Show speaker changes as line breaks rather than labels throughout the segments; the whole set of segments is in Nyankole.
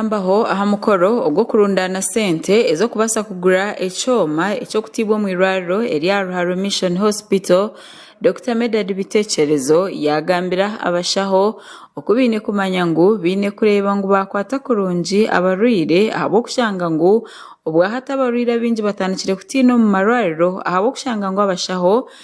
Kuyambaho aha mukoro ogw'okurundaana sente ez'okubaasa kugura ekyoma eky'okutaibwa omu irwariro erya Ruharo Mission Hospital, Dokita Medard Bitekyerezo yaagambira abashaho oku baine kumanya ngu baine kureeba ngu baakwata kurungi abarwaire ahabw'okushanga ngu obwahati abarwaire abaingi batandikire kutiina omu marwariro ahabw'okushanga ngu abashaho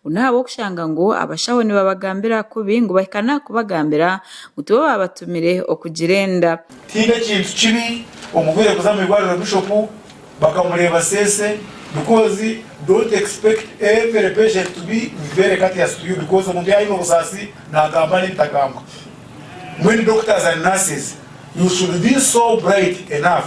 ngu n'ahabw'okushanga ngu abashaho nibabagambira kubi ngu bahikane aha kubagambira ngu tibo baabatumire okugira enda. Tihaine kintu
kibi omurwaire kuza omu irwariro bishopu bakamureeba seese because don't expect every patient to be very courteous to you because omuntu yaaba aine obusaasi naagamba n'ebitagambwa. When doctors and nurses you should be so bright enough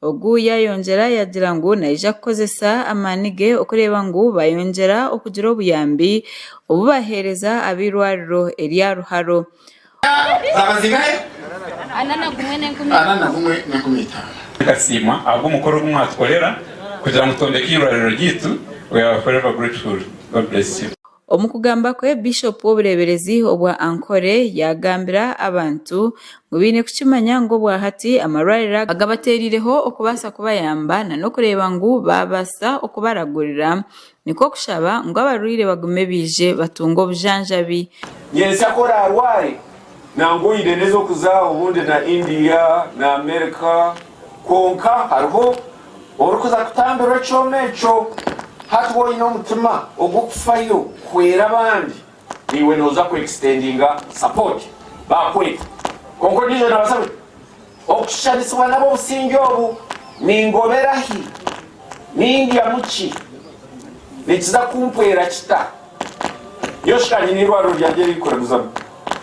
Ogu yaayongyera yaagira ngu naija kukozesa amaani ge okureeba ngu baayongyera okugira obuyambi obu baaheereza ab'eirwariro erya Ruharo.
Tukasiima ahabw'omukoro ogu mwatukorera kugira ngu twombeke eirwariro ryaitu. We are forever grateful. God bless you. Omu kugamba kwe,
Bishopu w'obureeberezi obwa Ankole yaagambira abantu ngu baine kukimanya ngu obwahati amarwariro agabateerireho okubaasa kubayamba na n'okureeba ngu baabaasa okubaragurira nikwo kushaba ngu abarwaire bagume baije batunge obujanjabi. Nyensya ku
oraarware nangwa oine n'ez'okuza obundi na India na Amerika kwonka hariho Orikuza kutambirwa ekyoma ekyo, hati woine omutima ogw'okufayo kuhwera abandi, naiwe noza ku extendinga support bakweta. Kwonka ondijo nabasa bwe okushanisibwa n'ab'obusingye obu, ningobera hi? Nindyamu ki? Nikiza kumpwera kita? Nyowe shikangye n'eirwariro ryangye eririkuraguzamu.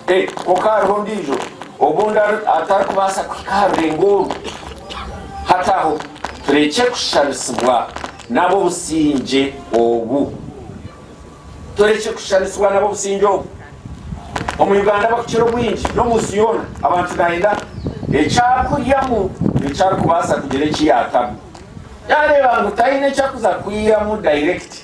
Ee, kwonka hariho ondiijo obundi atarikubaasa kuhika aha rurengo oru. Hati aho turekye kushushaanisibwa n'ab'obusingye obu. Turekye kushushaanisibwa n'ab'obusingye obu. Omu Uganda abakukira obwingi, n'omu nsi yoona, abantu naayenda ekyakuryamu eki arikubaasa kugira eki yaatamu. Yaareeba ngu taine eki arikuza kwihamu dayirekiti,